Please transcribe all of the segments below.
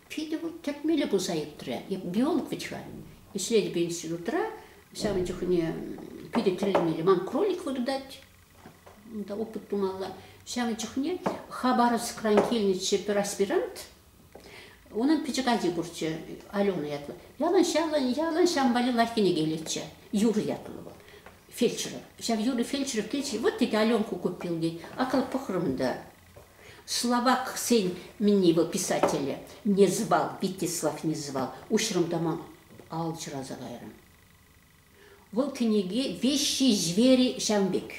Питӗ вӑл тӗкмелле пулса иртрӗ. Биолог вӗт ҫав. Ӗҫлетӗп институтра, ҫавӑн чухне питӗ тӗлӗнмелле. Ман кролик выртать, унта опыт тумалла. Ҫавӑн чухне Хабаровскран килнӗччӗ пер аспирант, Унӑн пӗчӗк ачи пурччӗ, Алена ятлӑ. Ялан ялан, ялан ҫам валли лайӑх кӗнеке илетчӗ. Юрий ятлӑ вӑл, фельдшеров. Ҫав Юрий фельдшеров тетчӗ, вот тетя Аленку купил, тет. Акӑл пӑхрӑм та. Словаксен минне его писателӗ не звал, Витислав не звал. Уҫрӑм та ман алчӑраса кайрӑм. Вӑл кӗнеке Веҫҫи звери ҫав пек.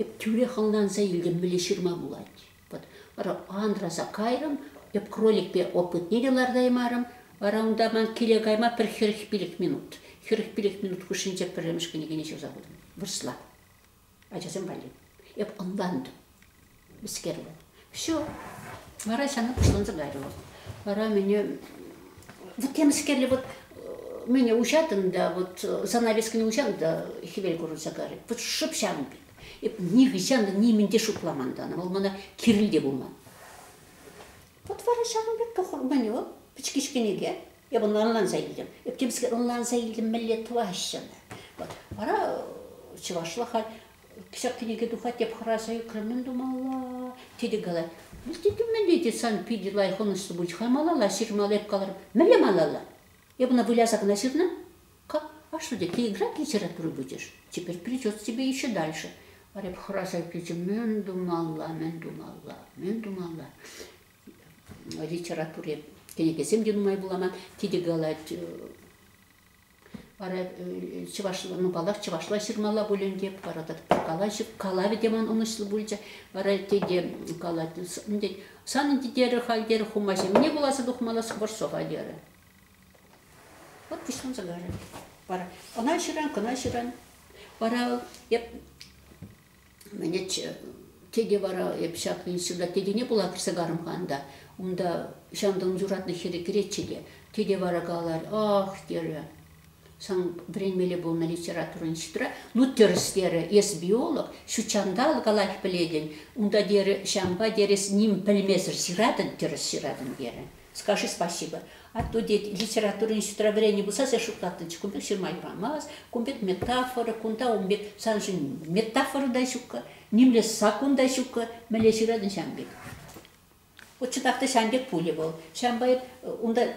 Эп тӳрех ӑнланса илтӗм, мӗнле ҫырма пулать. Вот вара анраса кайрӑм, эп кроликпе опытне те лартаймарӑм. Вара унта ман киле кайма пӗр хӗрӗх-пилӗх минут, хӗрӗх-пилӗх минут хушшинче пӗрремӗш кӗнекене ҫырса хутӑм. Вырӑсла. ачасем валли. Эп ӑнлантым. Мӗскерлӗ. Все. Вара сана пуҫланса кайрӗ вӑл. Вара мене вот я мӗскерле вот мене уҫатӑн да вот занавескене уҫан да хӗвел курӑнса карать. Вот шӑп ҫавӑн пек. Эп нихӑҫан та нимӗн те шутламан тана. Вӑл мана кирил те пулман. Вот вара ҫавӑн пек тӑхӑрмӗнӳ пӗчкӗч кӗнеке. Эпӗ ӑнланса илтӗм. Эпкемскер ӑнланса илтӗм мӗнле тӑваҫҫӗ. Вот вара чӑвашла халь ҫак кӗнеке тухать теп хӑраса ӳкрӗм мӗн тумалла. Тете калать, ну тете мӗнле те сан питӗ лайӑх ӑнӑҫлӑ пулчӗ, хай малалла ҫырмалла эп каларӑм. Мӗнле малалла? Эпӗ ӑна выляса кӑна ҫырнӑ. А что, ты игра килсерен пробуйдешь? Теперь придется тебе еще дальше. Варя хӑраса килчӗ. Мӗн тумалла, мӗн тумалла, мӗн тумалла? Литературе кӗнекесем те нумай вуламан. Тите калать, вара чӑвашла, ну, паллах, чӑвашла ҫырмалла пулин те, вара калаҫып, калавӗ те ман ӑнӑҫлӑ пулчӗ. Вара тете калать, тет, санӑн тете халь, терӗ, хумаҫа, мне пуласа тухмалла скворцова, терӗ. Вӑт пуҫланса ларӗ. Вара ӑна ҫыран, кӑна ҫыран. Вара эп мене тете вара эп ҫак института тетене пула кӗрсе карӑм-ха ӑнта. Унта ҫанталӑк юратнӑ хӗре кӗретчӗ те. Тете вара каларӗ, ах, терӗ, сан вӗренмелле пулнӑ литература института. Ну, тӗрӗс, терӗ, эс биолог, ҫут ҫанталӑк калаҫ пӗлетӗн. Унта, терӗ, ҫампа, терӗ, эс ним пӗлмесӗр ҫыратӑн, тӗрӗс ҫыратӑн, терӗ. Скажи спасибо. А то, дед, литературӑн строеврени пулса сен шутлаттӑнчӗ. Кун пек ҫырма юрамасть. Кун пек метафора, кунта ун пек, саншӑн метафора та ҫуккӑ, нимле саккун та ҫуккӑ, мӗнле ҫыратӑн ҫан пек. Вот чӑнах ҫан пек пулӗ вӑл. Ҫавӑнпа унта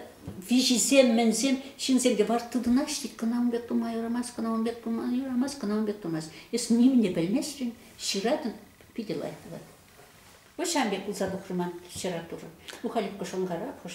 виҫисем, мӗнсем ҫынсемте вар тытӑнаҫҫӗ. Кӑна ун пек тума юрамасть, кӑна ун пек тума юрамасть, кӑна ун пек тумасть. Эс нимне пӗлместӗн, ҫыратӑн, питӗ лайӑх тӑвать. Ҫавӑн пек пулса тухрӗ ман ҫӑра турӑ. Ну, Халюкка шӑнкарапхӑш